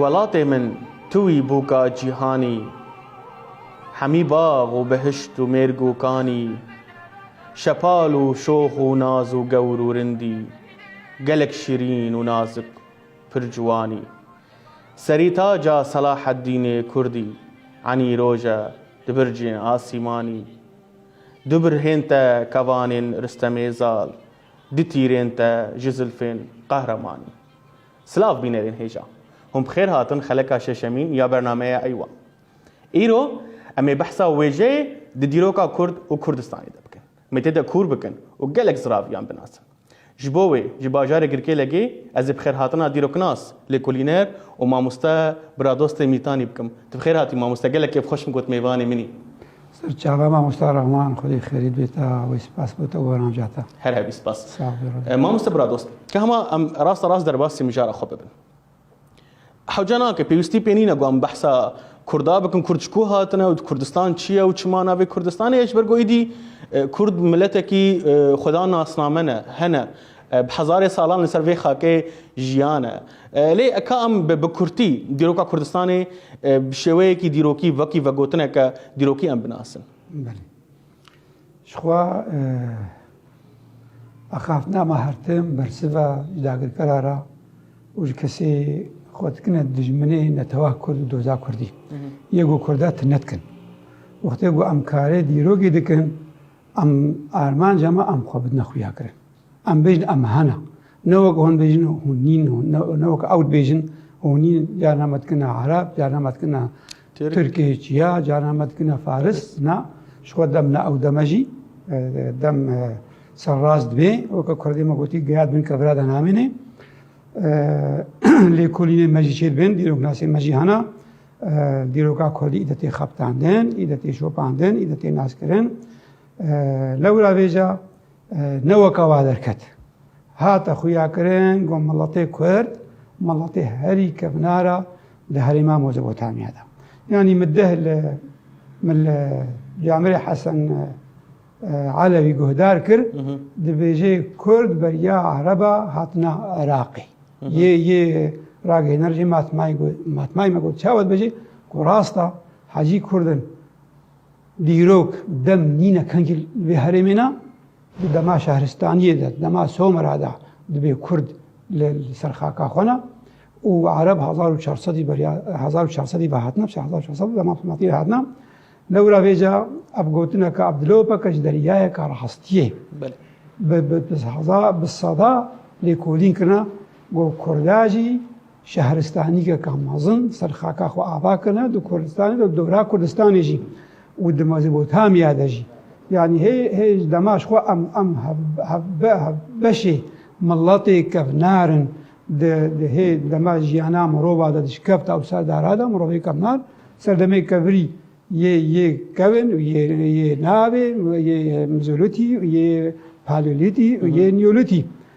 Welatê min tu wî bûka cîhanî Hemî bax û bihişt û mêrg û kanî Şepal û şox û naz û gewr û rindî Gelek şirîn û nazik pir ciwanî Serî taca Selaheddînê Kurdî Enî roj e di bircên asîmanî Du birhên te kevanên Ristemê Zal Du tîrên te ji zilfên qehremanî. Silav bînerên hêja. Hûn bi xêr hatin xeleka şeşemîn ya bernameya Eywa. Îro em ê behsa wêjeyê di dîroka Kurd û Kurdistanê de bikin. Em ê tê de kûr bikin û gelek ziraviyan binasin. Ji bo wê ji bajarê Girkêlegê ez ê bi xêr hatina dîroknas, lêkolîner û mamoste biradostê Mîtanî bikim. Tu bi xêr hatî mamoste gelek kêfxweş im got mêvanê min î. Serçava Mamosta Rahman xwedê xerît bêta wê spas bo te û wenanja te. Her hevî spas. Mamoste biradost ka hema em rasta rast derbasî mijara xwe bibin. Hewce nake pêwîstî pê nîne ku em behsa Kurda bikin, Kurd ji ku hatine û Kurdistan çi ye û çi mana vê Kurdistanê ye ji ber ku êdî Kurd miletekî xweda nasname ne, hene bi hezarê salan li ser vê xakê jiyane. Lê ka em bi kurtî dîroka Kurdistanê bi şêweyekî dîrokî wekî vegotineke dîrokî em binasin. Belê. Jixwe axaftina me her tim bersiva ji dagirkera re û ji kesê xwe dikine dijminê netewa Kurd û doza Kurdî. Yê ku Kurda tune dikin. Wextê ku em karê dîrokî dikin, em armanca me em xwe bidine xuyakirin. Em bêjin em hene. Ne wek hûn bêjin hûn nîn hûn ne wek ew dibêjin hûn nîn carna me dikine ereb carna me dikine tirkê çiya carna me dikine faris na ji xwe dem ne ew deme jî e, dem e, serrast dibê weke kurdê me gotî geyad bin kevira de namênê e, lêkolînê me jî çêdibên dîroknasê me jî hena dîroka kurdî îde tê xebtandin îde tê şopandin îde tê naskirin lewra vêja Ne weka wa derket. Hate xuyakirin got miletê Kurd miletê herî kevnar e li herêma Mezopotamya de. Yanî min deh li min li Camirê Hesen Elewî guhdar kir dibêjê Kurd beriya Ereba hatina Iraqê. Yê yê ragihêner jî matmayê me got çawa dibêjê ku rasta hecî Kurd in. Dîrok dem nîne kengî li vê herêmê ne. Di dema şehristaniyê de, di dema Somera de dibê Kurd li ser xaka xwe ne û Ereb hezar û çar sedî beriya hezar û çar sedî ve hatine hezar û çar sedî dema Abdulmatî ve hatine. Lewra vêca ev gotineke Abdulopeke ji deryayeke rastiyê bi bi bi hezar bi seda lêkolîn kirine got Kurda jî Şehristanîkeka mezin ser xaka xwe ava kirine di Kurdistanê de û dora Kurdistanê jî û di Mezopotamiya de jî. Yanî hê hê ji dema ji xwe em em hev hev be hev beşê miletê kevnar in. Di di hê dema jiyana mirova de dişkevta û serdara de mirovê kevnar serdemê kevirî yê yê kevin û yê yê navê yê mizolîtî û yê paleolîtî û yê nîolîtî.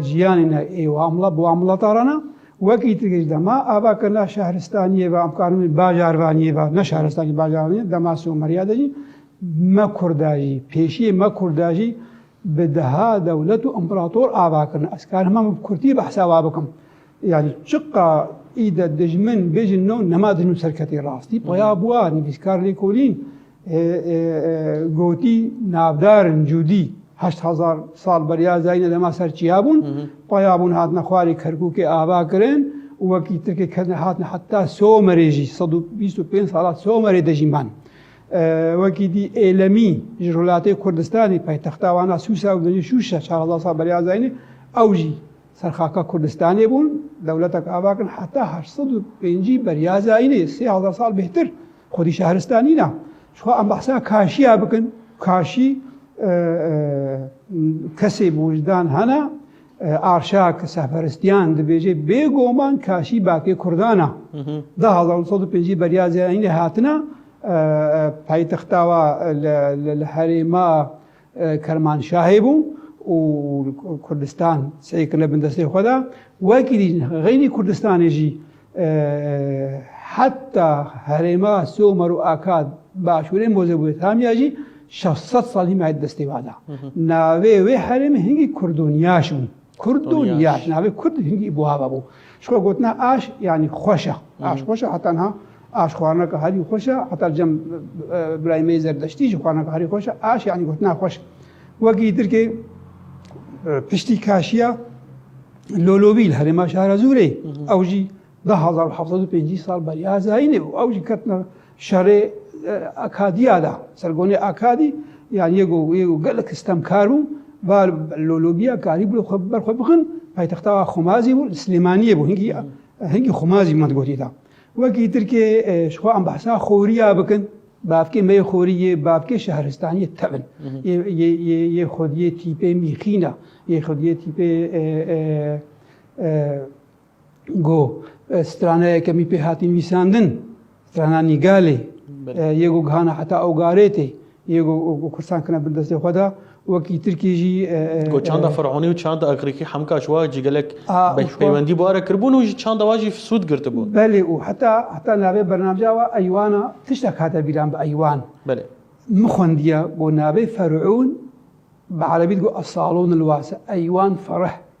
Jiyanê ne ê wamla bi wamladaran e, wekî ti giş dema ava ke na şehristaniyê ve em karin bê bajarvaniyê ve, ne şehristaniyê bajarvaniyê dema Sûmeriya de jî me Kurda jî, pêşiyê me Kurda jî bi deha dewlet û împerator ava kirin. Ez karin hema min bi kurtî behsa wa bikim. Yani çiqa îde dijmin bêjin no nema dijmin serketê rastî paya bûa nivîskar lêkolîn Gotî navdar in cûdî heşt hezar sal beriya zayîne dema ser çiya bûn, paya bûn hatine xwarê Kerkûkê ava kirin û wekî Tirkê ketine hatine heta Somerê jî sed û bîst û pênc sala Somerê de jî man. Wekî dî Êlemî ji rûlatê Kurdistanê paytexta wan a Sûsa û binê Şûşe çar hezar sal beriya zayîne ew jî ser xaka Kurdistanê bûn, dewletek ava kirin heta heşt sed û pêncî beriya zayînê sê hezar sal bêhtir. Xwedî şehristanî ne. Jixwe em behsa kaşiya bikin. Kaşî kesê bi wijdan hene. Arşa ki sehperestiyan dibêje bêgoman kaşî bakê Kurdan e. Di hezar nû sed û pêncî beriya zêyayînê hatine paytexta wa li herêma Kermanşahê bû û Kurdistan sey kirine bin destê xwe de. Wekî dîn xeynî Kurdistanê jî heta herêma Somer û Akad başûrê Mozebûyetamiya jî 600 sal hîmayet destê wada. Navê wê herêmê hingî Kurdonyaş bû. Kurd û Niyaş, navê Kurd hingî buha vebû. Ji xwe gotina aş yanî xweş e. Aş xweş e heta niha aş xwarineka herî xweş e. Heta cem birayê me yê zerdeştî jî xwarineka herî xweş e. Aş yanî gotina xweş. Wekî îdirkê piştî kaşiya Lolobî li herêma Şahrazûrê ew jî Di hezar û heft sed û pêncî sal beriya Hezayînê bû. Ew jî ketina şerê Akadiya de. Sergonê Akadî yan yê ku yê ku gelek stemkar bû, ba lolobiya karî bû xwe ber xwe bixin. Paytexta wan Xumazî bû, li Silêmaniyê bû. Hingî hingî Xumazî me digotî da. Wekî tirkê ji xwe em behsa xoriya bikin, bavkê me yê xorî yê bavkê şehristaniyê tevin. Yê yê yê yê xwediyê tîpê mîxîn e. Yê xwediyê tîpê Go strana yekemî pê hatî nivîsandin, strana Nîgalê yê go gihana heta Ogarêtê yê go Kurdistan kine bin destê xwe de wekî Tirkiyê jî Go çanda Fironî û çanda Îgrîkî hemka ji wa jî gelek peywendî bi were kiribûn û ji çanda wa jî sûd girtibûn. Belê û heta heta navê bernamca wa eywana tiştek hate bîran bi eywan. Belê. Min xwendiye go navê Ferûn bi erebî digo Esalûn il wase eywan fereh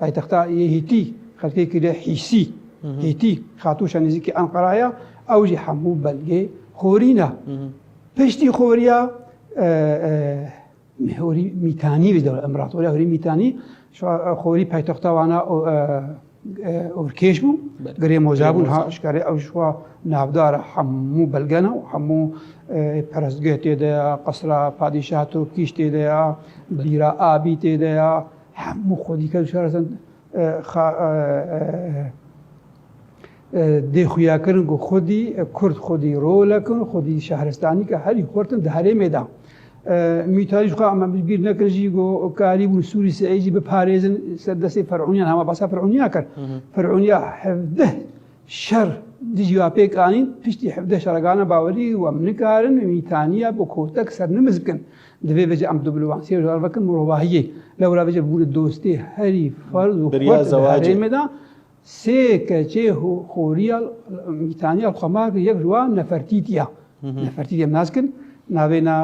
Paytexta yê Hîtî, xelkekî lê Hîsî, Hîtî, Xatûşa nêzîkî Enqera ye, ew jî hemû belgê xorî ne. Piştî xoriya Hûrî Mîtanî bi dewlet Împaratoriya Hûrî Mîtanî xorî paytexta wan a ûrkêş bû, girê moza bûn ha şkarê ew jixwa navdar e hemû belge ne û hemû perestgeh tê de ya, qesra padîşah Topkîş tê de ya, bîra Abî tê de ya, Hemû xwe dîka di şara Sand xa dê xuya kirin ku xwedî Kurd xwedî role kin, xwedî şehristanî ke herî xurtin di herêmê de. Mîtarî ji xwe em bi bîr nekin jî ku karî bûn Sûrî Seîd jî biparêzin ser destê Ferûniyan hema basa Ferûniya kir. Ferûniya hevdeh şer dijî wa pêk anîn, piştî hevdeh şereganan bawerî wem nikarin mîtaniya bi kotek sernimiz bikin. Divê vê jî em dîplomasiyê ji wan vekin mirovahiyê. Lewra vê jî bûne dostê herî ferz û xurt di herêmê de. Sê keçê xoriya mîtaniya xwemar kir, yek ji wan Nefertîtî ya. Nefertîtî em nas kin navê na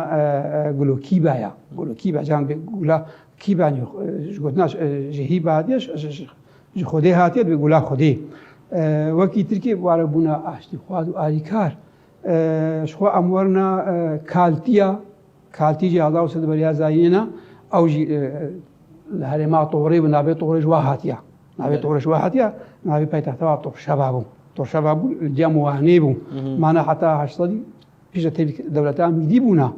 Gulo Kîba ya. Gulo Kîba can bê Gula Kîba nî ji gotina ji Hîba hatiye ji Xwedê hatiye divê Gula Xwedê. Wekî Tirkê ware bûna aştîxwaz û alîkar. Ji xwe em werina kaltiya, kaltî jî Azaw Sid bi riya Zayînê ne, ew jî li herêma Torê bi navê Torê ji wa hatiye. Navê Torê ji wa hatiye, navê paytexta wa Torşeva bû. Torşeva bû li cem Wanê bû. Mane heta heşt sedî pêşde tevî dewleta Mîdî bûna.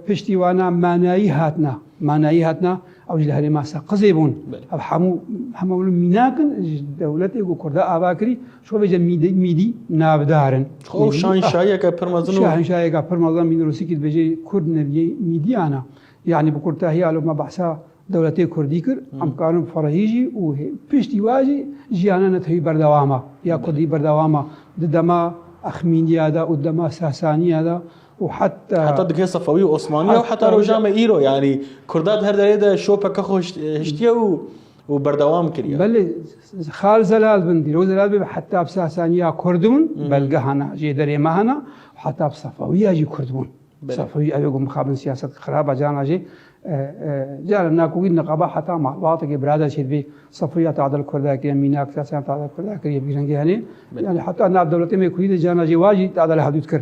Piştî wana manayî hatna manayî hatna ew ji li herêma seqizê bûn ev hemû hema wilo mînakin ji dewletê ku kurda ava kirî şo vê je mîdî navdarin şanşayeke pirmezin şanşayeka pirmezin mînrosîkî dibêje kurd neviyê mîdiyana yanî bi kurtahiya lo me behsa dewletê kurdî kir em karin ferehî jî û piştî wa jî jiyana netewî berdewama ya kurdî berdewama di dema Axmîniya da û dema Sasaniya da û heta. Heta dikê Sefewî û Osmanî ya û heta roja me îro yanî Kurda di her derê de şopeke xwe hiştiye û û berdewam kiriye. Belê Xal Zelal bin dîrok Zelal bê heta bi Sasanî ya Kurd bûn, belgeha na jê derê me hene û heta bi Sefewî ya jî Kurd bûn. Sefewî ew ê ku mixabin siyaset xirab e carna jê carên na ku wî niqaba heta malbatekê birader çê dibê Sefewî ya tadil Kurda kiriye, mînak Sasan ya tadil Kurda kiriye vî rengê hene yanî heta nav dewletê me Kurdî de carna jê wa jî tadil hevdût kir.